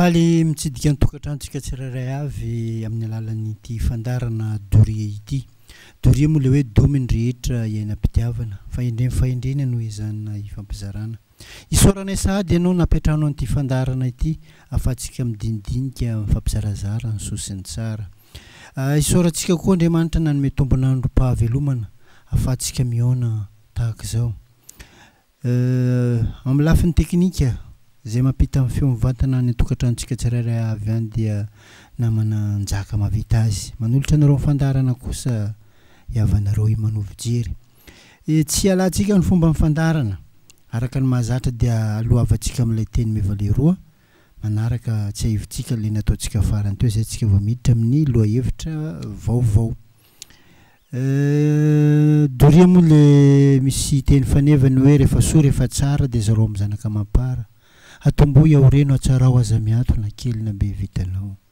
Faly mitsidika ny tokantranontsika tsirairay avy amin'ny alalan'ity fandaharana Doria ity. Doria moa ilay hoe domin'ny rehetra iainam-pitiavana. Fahendreny fahendrena no ezahina hifampizarana. Isaoranay sahady ianao napetrahano an'ity fandaharana ity ahafahantsika midinidinika mifampizarazara ny soa sy ny tsara. Isaorantsika koa Andriamanitra nanome tombon'androm-pahavelomana ahafahantsika mihaona tahaka izao. Euh amin'ny lafiny teknika izay mampita ny feo mivantana any an-tokantranontsika tsirairay avy any dia namana Njaka mahavita azy. Manolotra anareo ny fandaharana kosa i havanareo Imano Fijery. Tsy hialantsika ny fomban'ny fandaharana. Araka ny mahazatra dia alohavantsika amin'ilay teny mevale roa manaraka, tsiahivintsika ilay nataontsika farany teo izay isika vao miditra amin'ny lohahevitra vaovao. Doria moa le misy teny faneva ny hoe rehefa soa rehefa tsara dia zarao amin'ny zanaka amam-para. Atombohy ao reno atsarao aza miantona kely na be vitanao.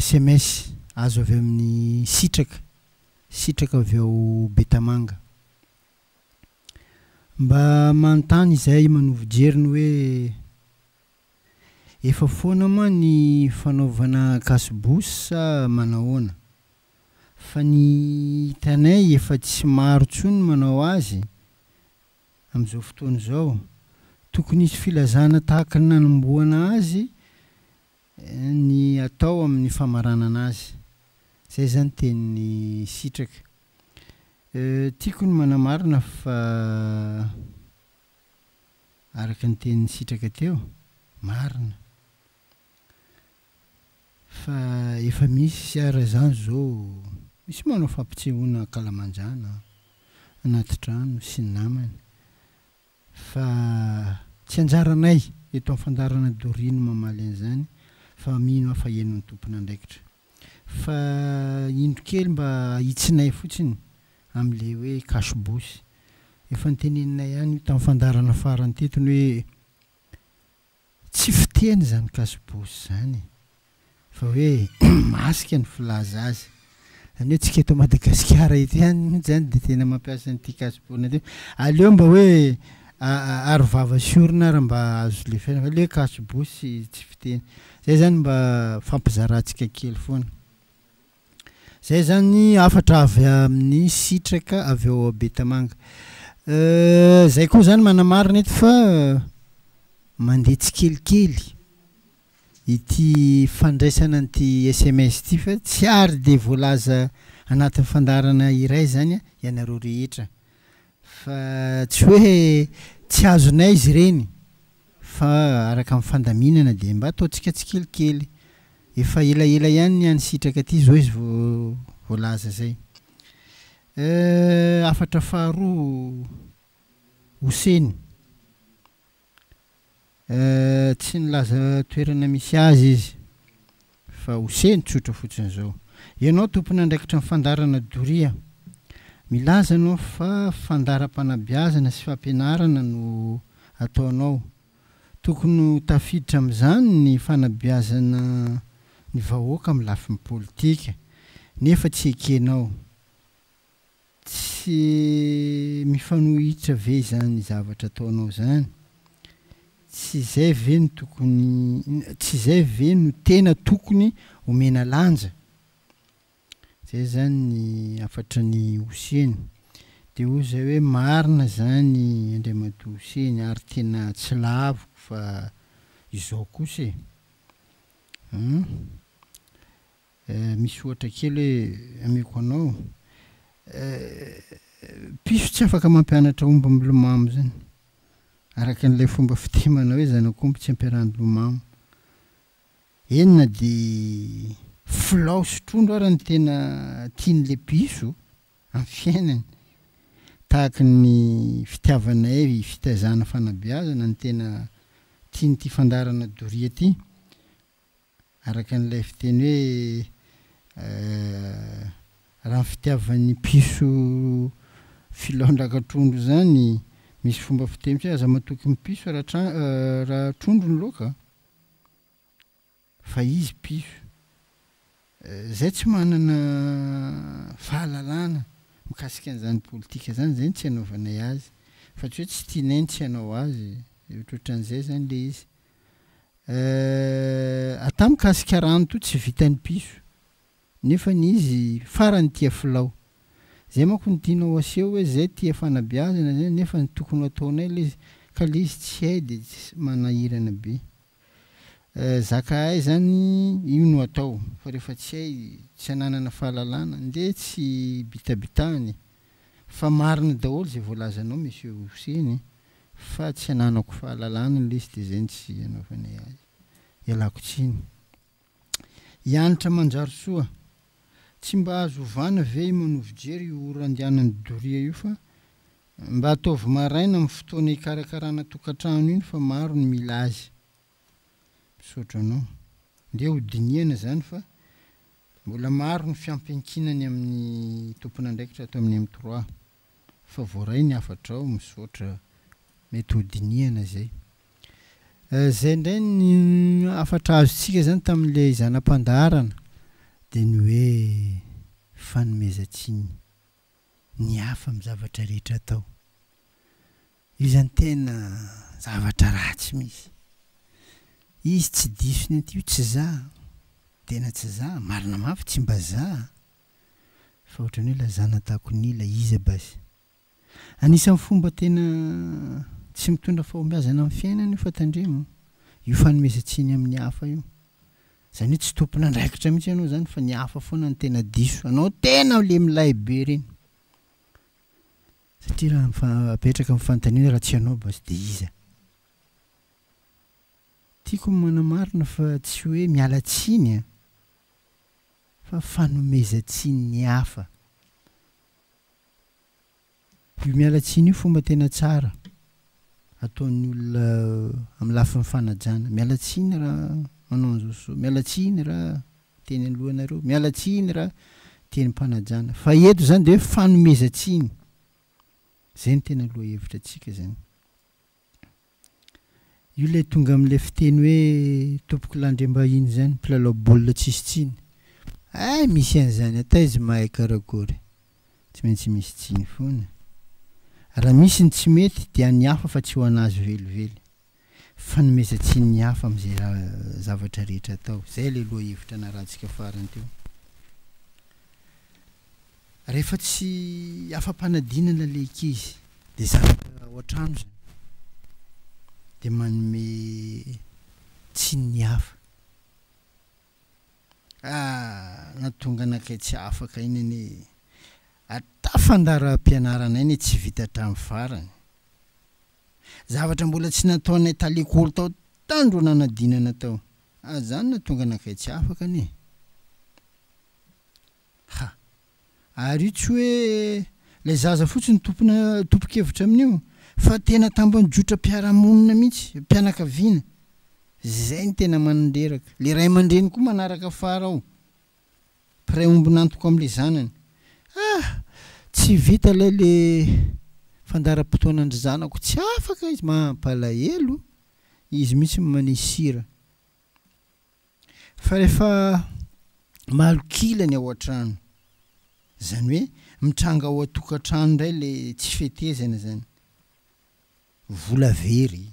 sms azo avy amin'ny sitraka sitraka avy ao Betamanga. Mba manontany izay manovo jeriny hoe efa foana moa ny fanaovana kasbous sa manahoana? Fa ny hitanay efa tsy maro tsony manao azy amin'izao fotoana izao. Tokony hisy filazana tahaka ny nanombohana azy ny atao amin'ny famaranana azy. Izay izany teny sitraka. Tiako ny manamarina fa araka ny teny nisitraka teo, marina, fa efa misy ara izany izao, misy manao fampisehoana ankalamanjana an, anaty trano sy ny namany. Fa tsy anjaranay eto amin'ny fandaharana doria ny mamaly an'izany fa mino aho fa henon'ny tompon'andraikitra. Fa indro kely mba ahitsinay fotsiny amin'ilay hoe cash bouche. Efa noteneninay ihany io tamin'ny fandaharana farany teto ny hoe Tsy fiteny izany kasobosy izany fa hoe masika ny filaza azy. Izany hoe tsika eto Madagasikara eto ihany mihitsy izany dia tena mampiasa an'ity kasobona ity. Aleo mba hoe aro vava sy orona ary mba azo lefaina fa ilay hoe kasobosy tsy fiteny. Izay izany mba fampizarantsika kely foana. Izay izany hafatra avy amin'ny sitraka avy ao Betamanga. Izay koa izany manamarina eto fa mandeha tsikelikely ity fandraisana an'ity sms ity fa tsy ary dia voalaza anatin'ny fandaharana iray izany ianareo rehetra. Fa tsy hoe tsy azonay izy ireny, fa araka ny fandaminana dia mba ataontsika tsikelikely. Efa elaela ihany ny any Sitraka aty izao izy vao voalaza izay. Euh, hafatra faharoa, Hoseny. Eeh tsy nilaza toerana misy azy izy fa oseny tsotra fotsiny zao. Ianao tompon'andraikitra ny fandaharana doria. Milaza ianao fa fandaharam-panabeazana sy fampianarana no ataonao. Tokony ho tafiditra amin'izany ny fanabeazana ny vahoaka amin'ny lafiny politika nefa tsy ekenao. Tsy mifanohitra ve izany zavatra ataonao izany? Tsy izay ve no tokony, tsy izay ve no tena tokony omena lanja? Izay izany ny hafatry ny Hoseny. Dia hoy izahay hoe, Marina izany Andriamatoa Hoseny, ary tena tsy laviko fa izao kosa e! An? Eh, misy ohatra kely hoe ameko anao. Eh, piso tsy afaka mampianatra omby milomamo zany. Araka an'ilay fomba fiteny manao hoe zanak'omby tsy ampiarahany lomamo. Eny na dia filao sy trondro ara ny tena tian'ilay piso amin'ny fiainany. Tahaka ny fitiavanay fitaizana fanabeazana ny tena tian'ity fandaharana doria ity. Araka an'ilay fiteny hoe raha ny fitiavan'ny piso filaondraka trondro izany, misy fomba fiteny hoe aza matoky ny piso raha trondro ny laoka fa izy piso izay tsy manana fahalalana mikasika an'izany politika izany izay no tsy hanaovanay azy fa tsy hoe tsy tianay ny tsy hanao azy, ohatrohatran'izay izany ilay izy. Euh ata mikasika rano to tsy vitan'ny piso nefany izy farany tia filao zay manko no tianao aseho hoe zay tia fanabeazana zay nefa ny tokony ho ataonay le izy ka le izy tsy hay de tsy manahirana be euh zaka hay zany io no atao fa refa tsy hay tsy ananana fahalalana nde tsy bitabitahana e fa marina daholo zay voalazanao monsieur Hoseny e. Fa tsy ananako fahalalana ny liste izay no tsy anaovanay azy. Ialako tsiny. I Hanitra Manjarisoa, tsy mba azo ovana ve i Manovo Jery io ora andehanany doria io fa mba ataovy maraina amin'ny fotoana ikarakarana tokantrano iny fa maro ny mila azy. Misaotra anao. Ndeha ho dinihana izany fa mbola maro ny fiampiankinany amin'ny tompon'andraikitra ato amin'ny M3. fa voaray ny hafatrao, misaotra, mety ho dinihana izay. Izay indray ny hafatra azontsika izany tamin'ilay zana-pandaharana dia ny hoe fanomezan-tsiny ny hafa amin'ny zavatra rehetra atao. Io izany tena zavatra ratsy mihitsy. Izy tsy diso ny an'ity hoe tsy za, tena tsy za, marina mafy tsy mba za, Fa ohatran'ny hoe lazana takon'ila izy a basy. Anisan'ny fomba tena tsy mitondra fahombiazana amin'ny fiainana io fa tandremo io fanomezan-tsiny amin'ny hafa io. Izany hoe tsy tompon'andraikitra mihitsy ianao izany fa ny hafa foana no tena diso. Anao tena ilay milay be ireny. Satria raha mifa- apetraka ny fanontaniana raha tsy ianao basy dia iza? Tiako ny manamarina fa tsy hoe miala tsiny an! fa fanomezan-tsinin'ny hafa. Io miala tsiny io fomba tena tsara ataon'ny olona amin'ny lafiny fanajana. Miala tsiny raha manao an'izao sy izao, miala tsiny raha teny anoloanareo, miala tsiny raha tenim-panajana. Fa eto izany dia hoe fanomezan-tsiny. Izay no tena lohahevitra antsika izany. Io ilay tonga amin'ilay fiteny hoe tompoko landriambahiny izany, mpilalao baolina tsisy tsiny. Hay misy an'izany an, taiza mahay karakory. Tsy maintsy misy tsiny foana. Raha misy ny tsy mety dia an'ny hafa fa tsy ho an'azy velively. Fanomezan-tsiny ny hafa amin'izay zavatra rehetra atao. Izay ilay lohahevitra narahantsika farany teo. Rehefa tsy afa-panadinana ilay ankizy dia zavatra ao an-trano izany dia manome tsiny ny hafa. Ah, na tonga anakay tsy afaka iny anie e! Ary tafandaharam-pianarana iny tsy vita hatramin'ny farany. Zavatra mbola tsy nataonay talekolo tao tandro nanadinana tao. Ah, izany na tonga anakay tsy afaka anie e! Ha! Ary io tsy hoe ilay zaza fotsiny tompona tompon-kevitra amin'io fa tena tambajotram-piarahamonina mihitsy, mpianakaviana. Izay no tena manin-dreraka. Ilay ray aman-dreny koa manaraka fara ao, mpiray ombon'antoka amin'ilay zanany. Ah! Tsy vita ilay ilay fandaharam-potoanan-dry zanako, tsy afaka izy. Mampalahelo, izy mihitsy no manisy sira. Fa rehefa malok'ila ny ao an-trano, izany hoe mitranga ao an-tokantrano indray ilay tsy fetezana izany, vola very,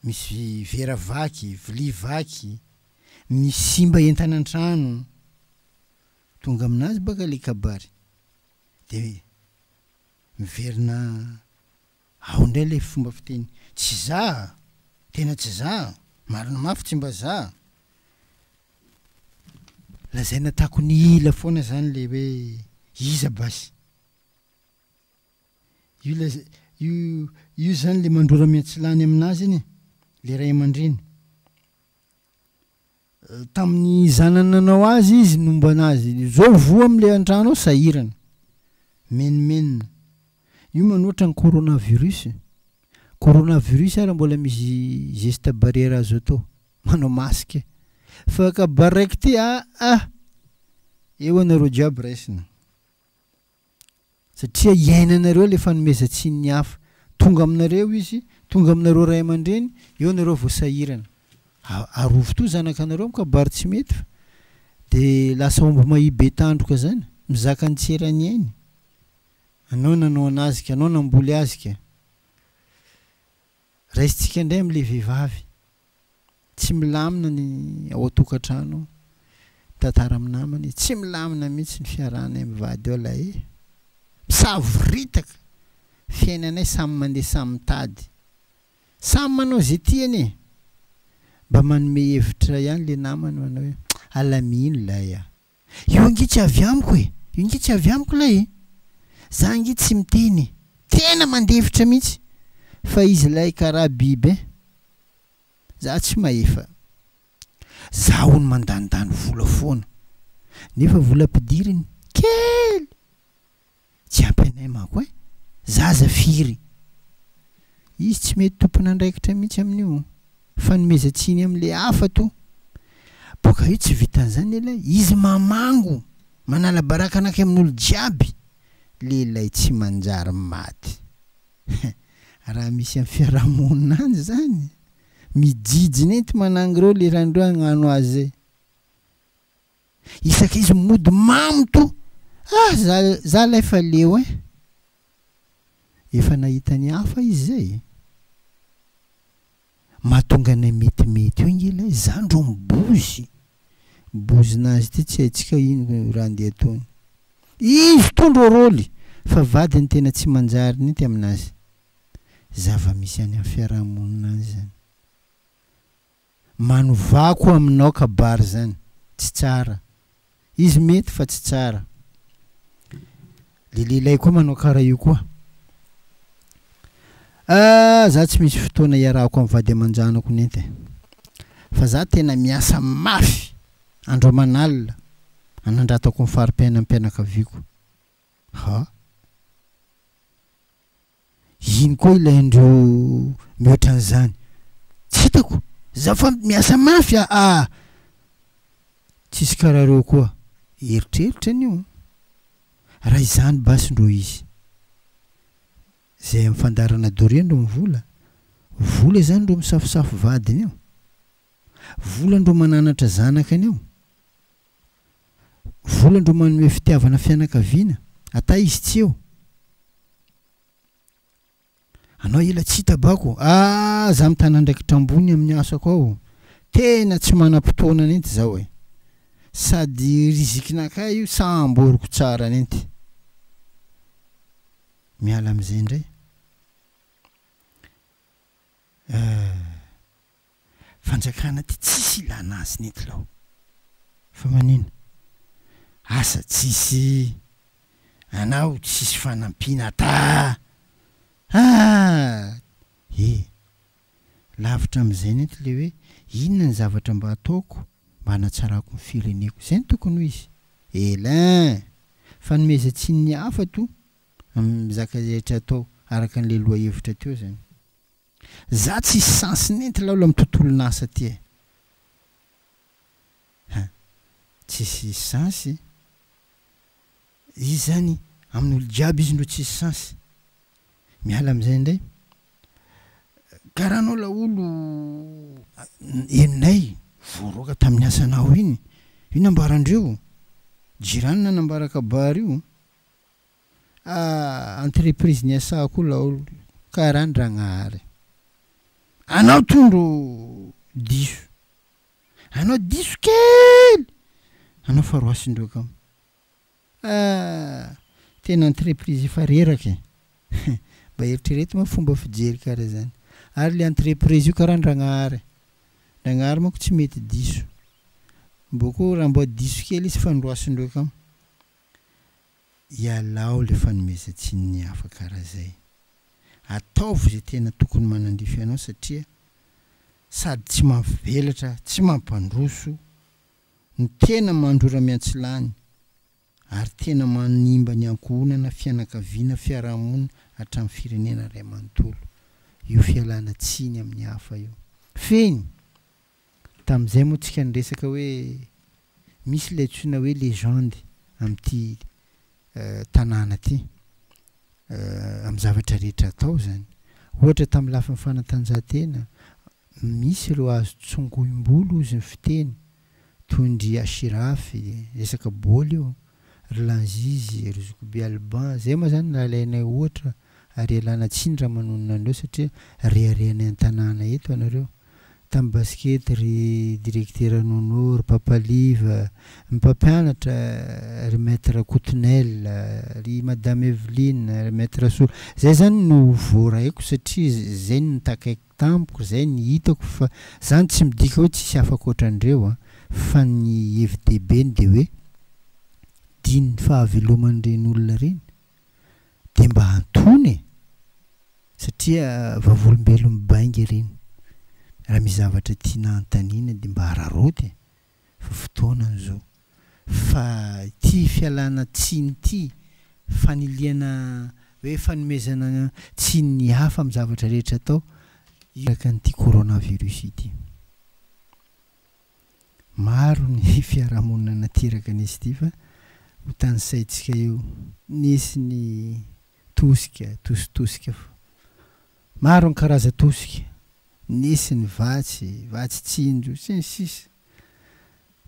misy vera vaky, vilia vaky, misy simba entana an-trano, tonga amin'azy baka ilay kabary dia miverina Ao indray ilay fomba fiteny, tsy za a! Tena tsy za a! Marina mafy tsy mba za a! Lazaina tako ny ila foana zany ilay hoe iza basy? Io ilay, io, io zany ilay mandrora miantsilany aminazy iny e! Ilay ray aman-dreny. Tamin'ny zanany nanao azy izy no mba nahazo izao voa amin'ilay an-trano ao sahirana. Menomenona. Io manoatra ny coronavirus. Coronavirus ary mbola misy geste barrière azo atao. Manao masque. Fa ka baraiky ty aa. Eo anareo jiaby raisina. Satria iainanareo ilay fanomezan-tsinin'ny hafa. Tonga aminareo izy, tonga aminareo ray aman-dreny, eo nareo vao sahirana. Arovy toa zanakanareo amin'ny kabary tsy mety fa dia lasa omby mahia be tandroka zany, mizaka ny tsy eran'ny ainy. Anao nanao an'azy ka, anao namboly azy ka. Raisintsika indray amin'ilay vehivavy tsy milamina ny ao an-tokantrano, mitantara amin'ny namany, tsy milamina mihitsy ny fiarahanay amin'ny vady eo lahy e! Misavoritaka! Fiainanay samy mandeha samy mitady. Samy manao izay tiany e! Mba manome hevitra ihany ilay namany manao hoe, Alamino lahy a! Io ange tsy avy amiko e! Io ange tsy avy amiko ilay e! Za ange tsy miteny e! Tena mandefitra mihitsy fa izy ilay karaha biby e! Za tsy mahefa. Za hono mandanindany vola foana nefa vola ampidiriny kely! Tsy ampy anay manko eh! Zaza firy? Izy tsy mety tompon'andraikitra mihitsy amin'io. Fanomezan-tsiny amin'ilay hafa toa. Boka io tsy vitan'izany ela eh! Izy mamango, manala baraka anakay amin'olo jiaby! Lehilahy tsy manjary maty. Hein! Raha misy amin'ny fiarahamonina any izany! Mijijina ento manangro eo le randroy hagnano azy eh! Isaka izy mody mamo to. Ah za za lay fa leo eh. Efa nahita ny hafa izy zay e. Mahatonga anay metimety io ange ilay zany rô mibozy. Bozinazy ity tsy haintsika ino raha andeha ataony. Izy to ndro rôly fa vadiny tena tsy manjary ninty aminazy. Zava-misy any amin'ny fiarahamonina any zany. Manovako aminao kabary zany tsy tsara izy mety fa tsy tsara le lehilahy koa manao kara io koa ah za tsy misy fotoana hiarahako am vady amanjanako net e fa za tena miasa mafy andro aman'alina anandratako ny faripiainam pianakaviako ha Ino koa ilay indreo mihoatra an'izany? Tsy hitako! Za fa miasa mafy aa! Tsisy karaha reo koa! Eritreritra anio an! Raha izany basy ndro izy! Zay amin'ny fandaharana doria ndro ny vola? Vola izany ndro misafosafo vadiny eo? Vola ndro mananatra zanakany eo? Volany ro manome fitiavana fianakaviana ata izy tsy eo anao ela tsy hitabako ah za mitana andraikitra ambony amin'ny asako ao tena tsy manam-potoana nenty zao e sady rizikinakay io sa amboriko tsara nenty miala amizay ndray ah fanjakana ty tsisy ilana azy nety lao fa manino asa tsisy anao tsisy fanampiana taa aa e lavitra amizay nety le hoe inona ny zavatra mba ataoko mba hanatsarako ny fireneko zay no tokony ho izy elin fanomezantsininy hafa to amizaka rehetra atao araka anle lohahevitra teo zany. Za tsisy sens nenty laolo am tontolon'asa ty eh. Hein. Tsisy sens i. Izy zany amin'olo jiaby izy no tsisy sens. Miala amzay ndray. Karaha anao laolo henonay voaroaka tamin'ny asanao iny. Io nambarandreo. Jirany nanambara kabary io. Ah entreprise niasako laolo karaha an dragnahary anao tondro diso anao diso kely anao fa roasindroa kamo ah tena entreprise efa reraka e hein mba eritrereto moa fomba fijery karaha zany ary le entreprise io karaha an dragnahary dragnahary manko tsy mety diso mbo koa raha mbo diso kely izy fa noroasindroa kamo. Ialao le fanomezan-tsiny ny hafa kara zay. Ataovy izay tena tokony manandrify anao satria sady tsy mampivelatra tsy mampandroso no tena mandrora miantsilany ary tena manimba ny ankohonana fianakaviana fiarahamonina hatramin'ny firenena ray manontolo io fialana tsiny amin'ny hafa io. Fehiny! Tamin'izay moa tsika niresaka hoe misy ilay antsoina hoe legende amin'ity tanàna ity amin'ny zavatra rehetra atao izany. Ohatra tamin'ny lafiny fanatanjahantena, misy ireo azo tsongoim-bolo hozy ny fiteny, toy ndry Ashiraf, resaka baolina io, ry Lanzizy, ry Zokibe Alban, zay moa zany raha alainay ohatra ary ialana tsiny raha manonona anareo satria reharehanay an-tanàna eto anareo. Tamin'ny basikety ry Direktera Nono, ry Papa Liva, ny mpampianatra ry Maître Rakotonel, ry Madame Evelyne, ry Maître Rasoa, zay zany no voaraiko satria zay no nitakaiko. tamiko zay ny hitako fa zany tsy midika hoe tsisy hafa ankoatran'ireo an, fa ny hevi-dehibeny dia hoe din'ny fahaveloman'ireny olona ireny dia mba antony e! satria vavolombelon'ny bainga ireny, raha misy zavatra tiana hanontaniana dia mba araraoty e! fa fotoana izao fa ity fialana tsiny ity, fanilihana hoe fanomezana tsiny ny hafa amin'ny zavatra rehetra atao araka an'ity coronavirus ity. Maro ny fiarahamonina nateraka an'izy ity fa ho tanisaintsika eo, nisy ny tosika, tositosika, Maro ny karazan-tosika, nisy ny vatsy, vatsy tsinjo, sy ny sisa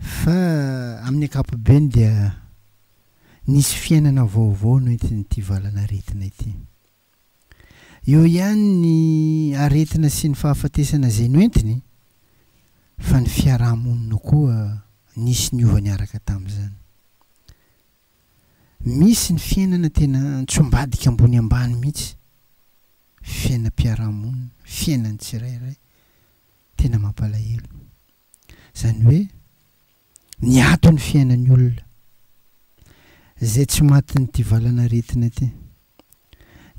Fa amin'ny ankapobeny dia nisy fiainana vaovao noentin'ity valan'aretina ity. Eo ihany ny aretina sy ny fahafatesana izay noentiny fa ny fiaraha-monina koa nisy niova niaraka tamin'izany. Misy ny fiainana tena antsombadika ambony ambany mihitsy, fiainam-piarahamonina, fiainan'ny tsirairay, tena mampalahelo. Izany hoe niato ny fiainan'ny olona, izay tsy matin'ity valan'aretina ity.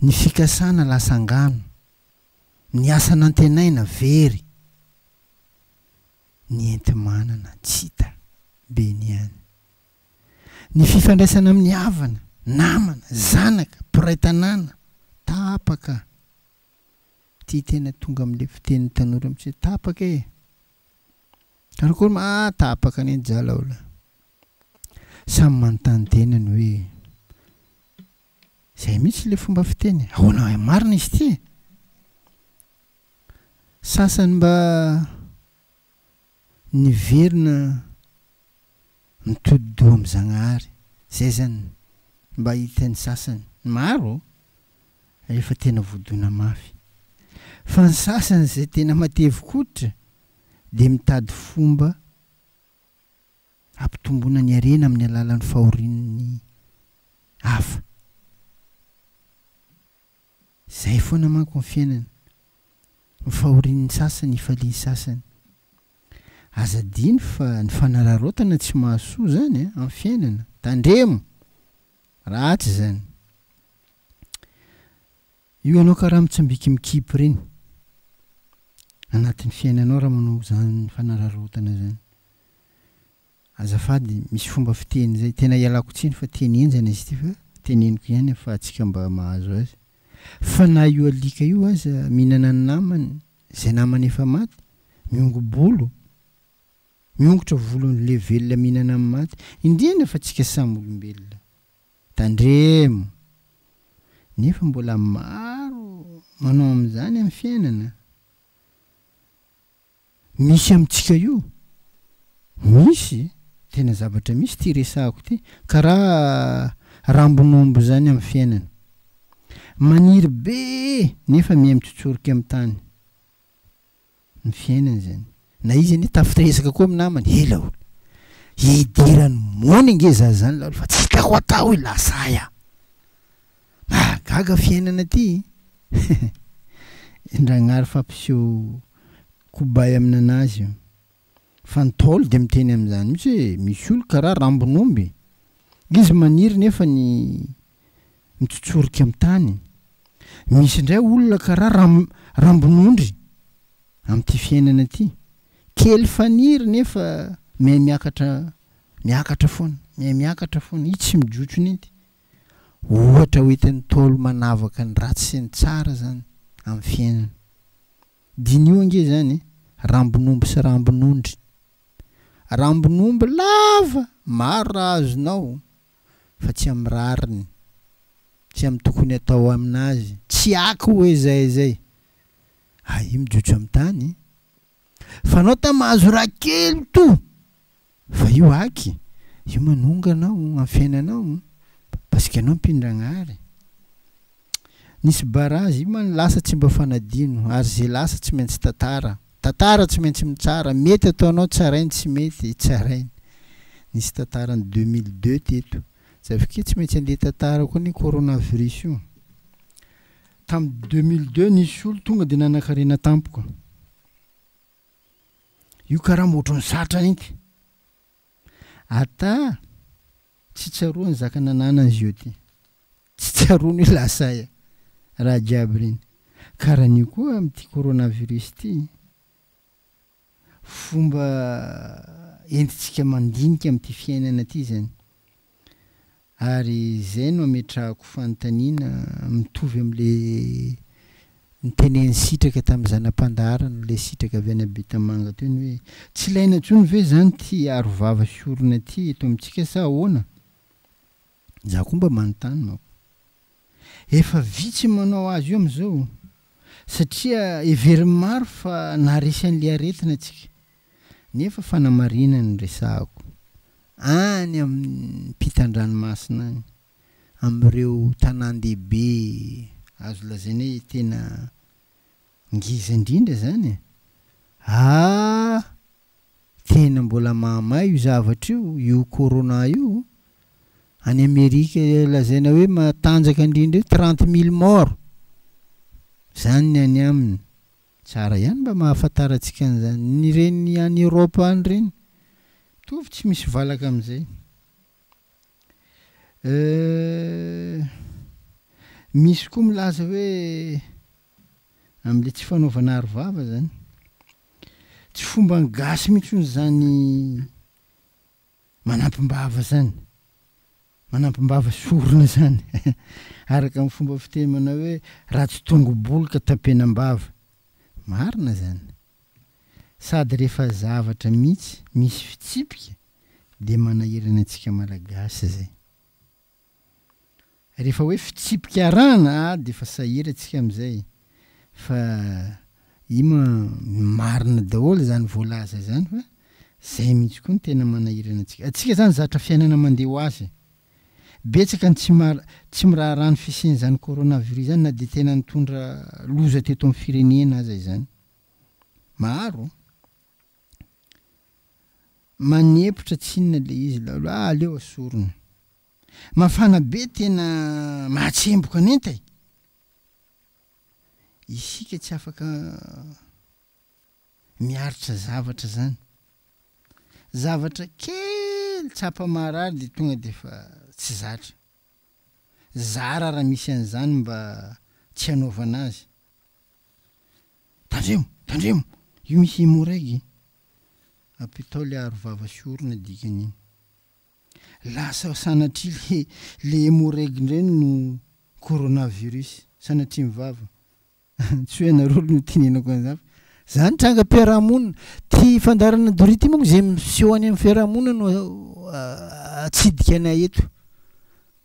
Ny fikasana lasa angano, ny asa nantenaina very, ny enti-manana tsy hita, be ny any. Ny fifandraisana amin'ny havana, namana, zanaka, mpiray tanàna, tapaka. Ity tena tonga amin'ilay fitenin'ny tanora mihitsy hoe tapaka e! Karakory ma ah tapaka anie ny jala o la! Samy manontany tenany hoe izay mihitsy ilay fomba fiteny e! Ahoana marina izy ity e! Sasany mba niverina nitodi-doha amin'i Zagnahary. Izay izany ny mba hita ny sasany. Ny maro efa tena voadona mafy. Fa ny sasany izay tena matevi-koditra dia mitady fomba hampitomboana ny harena amin'ny alalan'ny fahorian'ny hafa. Izay foana manko ny fiainana, ny fahorian'ny sasany ifalian'ny sasany. Aza adino fa ny fanararaotana tsy mahasoa izany amin'ny fiainana. Tandremo! Ratsy izany. Io ianao karaha mitsambiki mikipy ireny anatin'ny fiainanao raha manao izany fanararaotana izany. Azafady, misy fomba fiteny izay, tena ialako tsiny fa teny henjana izy ity fa teneniko ihany afahantsika mba mahazo azy. Fa na io alika io aza mihinana ny namany, izay namany efa maty, miongo-bolo, miongotra volon'le velona mihinana ny maty, indrindra fa tsika samy olombelona. Tandremo! Nefa mbola maro manao amin'izany amin'ny fiainana. Misy amintsika io? Misy e! Tena zavatra misy ity resahako ity, karaha rambon'omby izany amin'ny fiainana. Maniry be nefa miha mitsotsorika amin'ny tany ny fiainana izany. Na izy anie tafiresaka koa amin'ny namany, ela hono, hidiran'ny mony ange za izany laolo fa tsy tao ho tao i lazahy a! Mahagaga fiainana ty eh! Ndragnary fa mpiseho kobay amin'anazy io. Fa ny Ntaolo dia miteny amin'izany mihitsy hoe misy olona karaha rambon'omby. Izy maniry nefa ny mitsotsorika amin'ny tany. Misy indray olona karaha ram rambon'ondry amin'ity fiainana ity. Kely faniry nefa mihaimiakatra miakatra foana, mihaimiakatra foana. I tsy mijotso ninty. Ohatra hoentin'ny Ntaolo manavaka ny ratsy sy ny tsara izany amin'ny fiainana. Diniho ange izany e, rambon'omby sy rambon'ondry. Rambon'omby lava maro raha azonao fa tsy amin'ny rariny, tsy amin'ny tokony atao amin'azy, tsy aky hoe izay izay. Hay mijotso amin'ny tany. Fanaota mahazo raha kely to fa io aky io manonga anao amin'ny fiainanao parce que ianao mpino Ragnahary nisy barrage io man lasa tsy mba fanadino ary ze lasa tsy maintsy tantara tantara tsy maintsy mitsara mety ataonao tsarainy tsy mety tsarainy nisy tantarany deux mille deux teto za avy ke tsy maintsy andeha tantara koa ny coronavirus io Tamin'ny deux mille deux nisy olo tonga dia nanakarena tampoka. Io karama ohatran'ny zatra inty. Ata tsy tsaroany zaka nananany zio ty. Tsy tsaroany hoe lasa aia raha jiaby reny. Karan'io koa amin'ity coronavirus ity. fomba entintsika mandinika amin'ity fiainana ity izany. Ary izay no ametrahako fanontaniana mitovy amin'ilay notenenin'i Sitraka tamin'ny zana-pandaharana, ilay Sitraka avy any Betamanga teo, ny hoe, Tsy ilaina intsony ve izany ity arovava sy orona ity eto amintsika sa ahoana? Izaho koa mba manontany manko. Efa vitsy manao azy io amin'izao satria heverin'ny maro fa naharesy an'ilay aretina isika. Nefa fanamarinana no resahako. Any ampitan-dranomasina any, amin'ireo tanàn-dehibe azo lazaina hoe tena Ngeza indrindra zany e! Aah! Tena mbola mahamay io zavatra io, io corona io. Any Amerika lazaina hoe matanjaka indrindra io trente mille morts! Zany ny any aminy. Tsara ihany mba mahafantarantsika an'izany. Ny ireny any Europe any ireny mitovy tsy misy valaka amin'izay. Euh. Misy koa milaza hoe. amle tsy fanaovana aro vava zany. Tsy fomban gasy mintsony zany manampim-bava zany. Manampim-bava sorona zany araka ny fomba fiteny manao hoe raha tsy tongo bolo ka tapenam-bava. Marina zany. Sady refa zavatra mintsy misy fitsipika de manahirana antsika malagasy zay. Rehefa hoe fitsipika arahana a dia efa sahira tsika amizay fa io ma marina daholo izany voalaza izany fa zay mihitsy koa no tena manahirana antsika. Antsika izany zatra fiainana mandeha ho azy. Betsaka ny tsy mar tsy miraharaha ny fisian'izany coronavirus izany na dia tena nitondra loza teto amin'ny firenena aza izany. Maro. Manepotra tsy inona le izy laolo ah aleo asorina. Mafana be tena mahatsemboka ny enta e! Isika tsy afaka miaritra zavatra zany. Zavatra kely tsapa maharary de tonga de fa tsy zatra. Zara raha misy an'izany mba tsy hanaovana azy. Tandremo! Tandremo! Io misy hemorraig iny. Apitao le aro vava sy orona dikany iny. Lasa sanatria le le hemorraig ndray no coronavirus. Sanatria ny vava. Tsy hoe anareo no tenenako an'izany fa zany trangam-piarahamonina. Ty fandaharana doria ty manko ze miseho any amin'ny fiarahamonina no atsidika anay eto.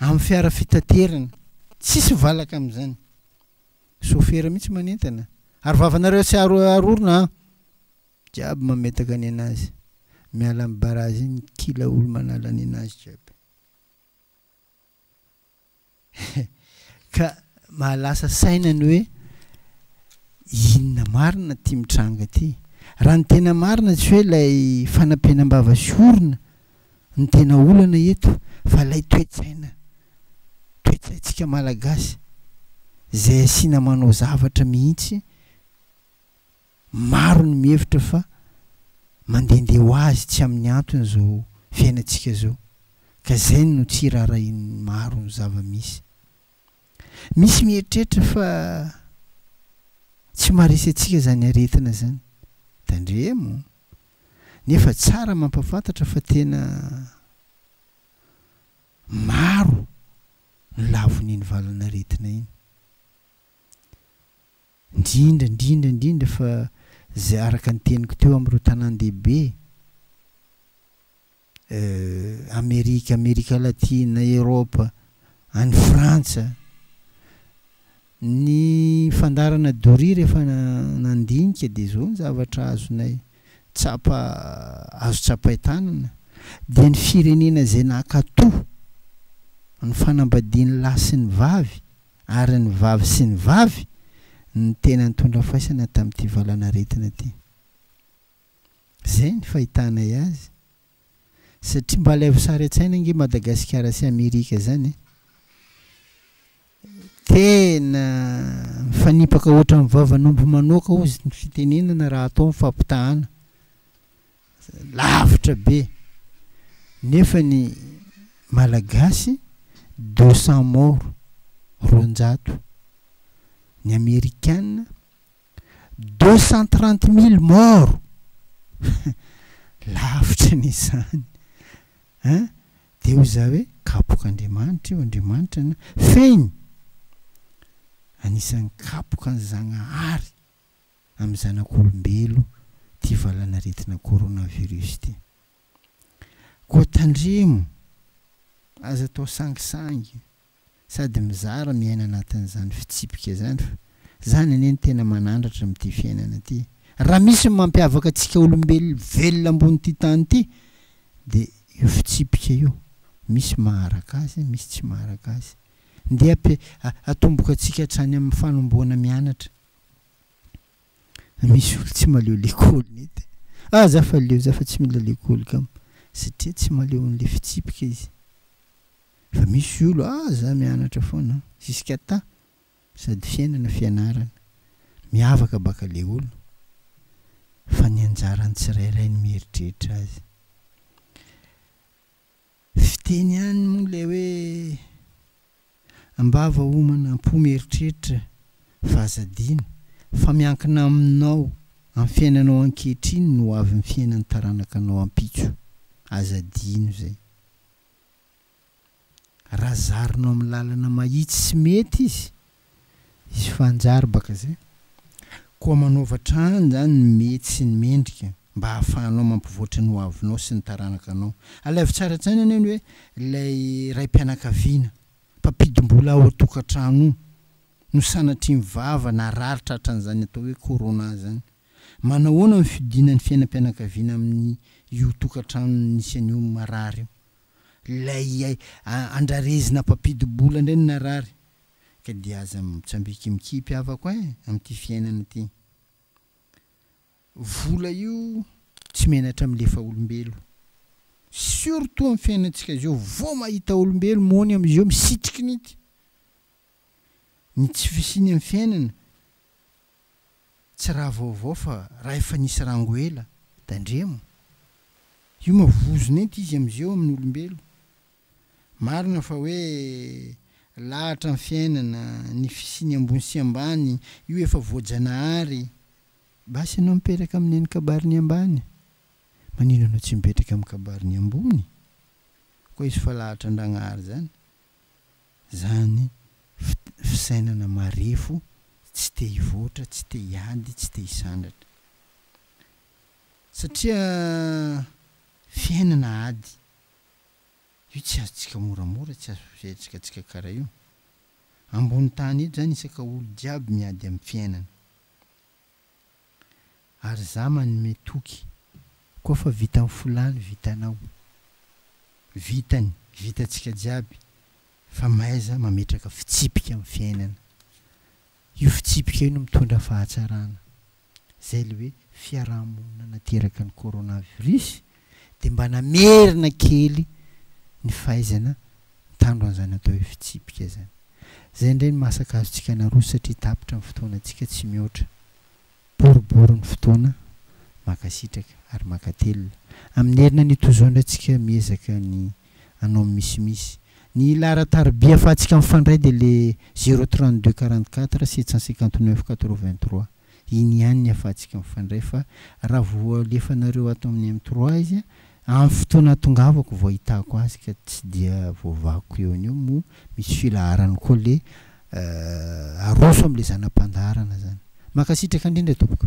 amin'ny fiara fitaterana, tsisy valaka amin'izany, sofera mihitsy manentana, ary vavanareo tsy aro arorona an! jiaby mametaka nenazy, miala amin'ny barazy iny kila olo manala nenazy jiaby. Ka mahalasa saina ny hoe inona marina ity mitranga ity. Raha ny tena marina tsy hoe ilay fanampenam-bava sy orona no tena olana eto fa ilay toe-tsaina, toe-tsaintsika Malagasy izay asiana manao zavatra mihitsy Maro ny mihevitra fa mandehandeha ho azy tsy amin'ny antony izao fiainantsika izao, ka izay no tsy iraharahian'ny maro ny zava-misy. Misy mieritreritra fa tsy maharesy antsika izany aretina izany. Tandremo! Nefa tsara mampahafantatra fa tena maro ny lavon'iny valan'aretina iny. Indrindra indrindra indrindra fa izay araka ny teniko teo amin'ireo tanàn-dehibe Amerika, Amerika Latina, Eropa, any Frantsa, ny fandaharana doria rehefa nandinika dia izao ny zavatra azonay tsapa azo tsapain-tanana dia ny firenena izay nankatoa ny fanambadian'ny lahy sy ny vavy ary ny vavy sy ny vavy no tena nitondra faisana tamin'ity valanaretina ity. Izay ny fahitanay azy. Satria mba alaivo sary an-tsaina ange Madagasikara sy Amerika izany e! Tena mifanipaka ohatran'ny vavan'omby manoaka hozy ny fitenenana raha atao ny fampitahana. lavitra be nefa ny malagasy deux cent morts roanjato ny amerikana deux cent trente mille morts lavitra ny izany hein dia hoy za hoe kapoka Andriamanitra io Andriamanitra na fehiny anisan'ny kapoka ny Zagnahary amin'ny zanak'olombelo ity valan'aretina coronavirus ity. Koa tandremo, aza atao sangisangy sady mizara miaina anatin'izany fitsipika izany fa izany anie no tena manandratra amin'ity fiainana ity. Raha misy ny mampiavaka antsika olombelo velona ambonin'ity tany ity dia io fitsipika io, misy maharaka azy, misy tsy maharaka azy. Ndeha atomboka antsika hatrany amin'ny fanombohana mianatra. Misy olo tsy maleo lekôly nety e! Ah za fa leo za fa tsy mila lekôly kam satria tsy maleo an'le fitsipika izy fa misy olo ah za mianatra foana jusqu'à ta sady fiainana fianarana miavaka baka le olo fa ny anjaran'ny tsirairay ny mieritreritra azy. Fiteny ihany moa ilay hoe Am-bava homana am-po mieritreritra fa aza adino fa miankina aminao amin'ny fiainanao ankehitriny no ho avy ny fiainan'ny taranakanao ampitso. Aza adino izay. Raha zarinao amin'ny lalana mahitsy sy mety izy Hisy fanjary baka zay. Koa manaova hatrany zany ny mety sy ny mendrika mba hahafahanao mampivoatra ny ho avinao sy ny taranakanao. Alaivo tsara an-tsaina anie ny hoe ilay raim-pianakaviana, mpampidim-bola ao an-tokantrano io, no sanatria mivava na rary tratran'izany atao hoe corona zany. Manahoana ny fiodiana ny fiainam-pianakaviana amin'ny io tokantrano nisy an'io marary io? Ilay andrarezina mpampidim-bola indray no narary. ka dia aza mitsambikimikipy havako eh amin'ity fiainana ity. Vola io tsy menatra milefa olombelo. Surtout amin'ny fiainantsika izao vao mahita olombelo mony amin'izao misitriky ny ity. Ny tsy fisiany amin'ny fiainana tsy raha vaovao fa raha efa nisy rango ela. Tandremo. Io ma vozona ento izy amin'izao amin'ny olombelo Marina fa hoe lahatra ny fiainana, ny fisiany ambony sy ambany, io efa voajanahary. Basy ianao mipetraka amin'ny eny kabariny ambany, manino anao tsy mipetraka amin'ny kabariny ambony? Koa izy fa lahatra Andragnahary zany, zany fisainana marefo tsy te hivoatra, tsy te hiady, tsy te hisandratra. Satria fiainana ady. Io tsy azontsika moramora tsy azo fisaintsika tsika kara io. Ambony tany eto zany isaka olo jiaby miady am fiainana. Ary za manome toky. Koa fa vitan folaly vitanao. Vitany vitantsika jiaby fa mahaiza mametraka fitsipika am fiainana. Io fitsipika io no mitondra fahatsarana. Izay ilay hoe fiaraha-monina nateraka ny coronavirus dia mba namerina kely ny fahaizana mitandro an'izany atao hoe fitsipika izany. Izay indray no maha-sakazontsika anarosy satria tapitra ny fotoanantsika tsy mihoatra Boribory ny fotoana, mankasitraka ary mankatelina amin'ny herina nitozoandra antsika miezaka ny anao ny misimisy. Ny laharan-tarobia afahantsika mifandray dia le zéro trente deux quarante quatre sept cent cinquante neuf quatre vingt trois. Iny ihany ny afahantsika mifandray fa raha voalefanareo ato amin'ny M trois izy Amin'ny fotoana atongavako vao ahitako azy ka tsy dia voavakoko eo an'io moa misy filaharany koa le aroso amle zana-pandaharana zany. Mankasitraka indrindra tompoko.